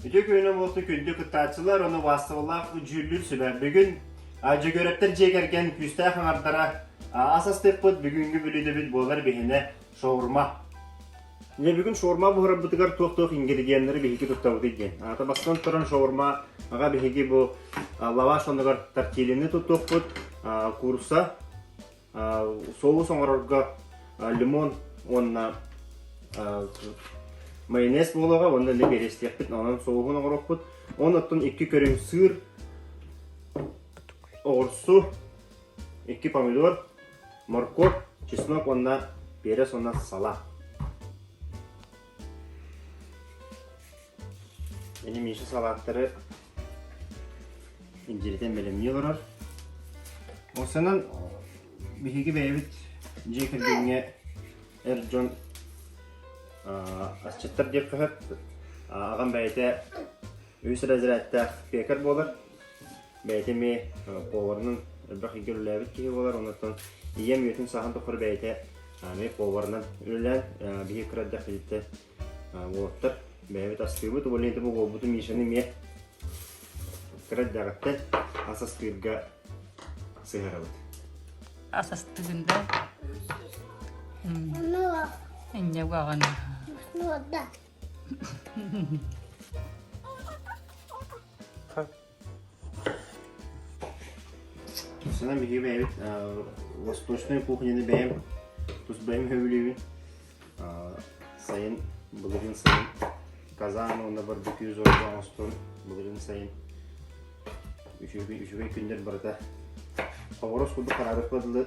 Үтүө күнүнэн буолsun күндү кыттааччылар уонна убаастабыллаах дьүүллүүр сүбэ. Бүгүн Дьөгүөрэптэр дьиэ кэргэн күүстээх аҥардара ас астыппыт бүгүҥҥү бүлүүдэбит буолар биһинэ шаурма. Дьэ бүгүн шаурма буһарарбытыгар туох-туох ингредиеннэри биһиги туттабытый диэн. Аата бастан туран шаурма аҕа биһиги бу лаваш онугар тортилини туттуппут, курса, соус оҥорорго лимон уонна майонез буолаҕа уонна лэбиэрэстиэхпит онон соуһун оҥорокпут оннуттан икки көрүҥ сыр оҕурсу икки помидор морковь чеснок уонна перец уонна сала Бини Миша салааттары индиритен бэлэмнии олорор. Осынан биһиги бэйэбит дьиэ кэргэҥҥэ эр дьон асчыттар диэххэ сөп. Аҕам бэйэтэ үс разрядтаах пекарь буолар. Бэйэтэ эмиэ поварынан элбэх илгэ үлэлээбит киһи буолар, оннуттан ийэм үйэтин сааһын тухары бэйэтэ эмиэ поварынан үлэлээн биһи кыраддах физиттэн уолаттар бэйэбит астыыбыт, уболинты бу уолбуту Мишаны эмиэ кыраддаҕыттан ас астыырга сыһарабыт. Ас астыгында Инне уағын. Собственно, беги бэйэбит восточной кухняны бэйэм тус бэйэм хөвүлүүбүн сайын былырын сайын казан уонна барбекю зорга оҥостон былырын сайын үчүгэй үчүгэй күннэр барыта хоборос курдук хараарыспа дылы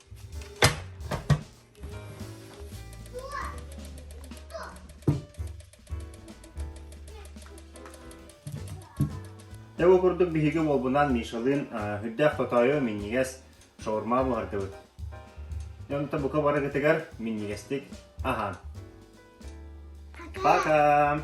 Дьэ бу курдук биһиги уолбунаан Мишалыын үрдээх хотоойу минньигэс шаурма буһардыбыт. Дьэ онто бука барыгытыгар минньигэстик аһаан. Пока!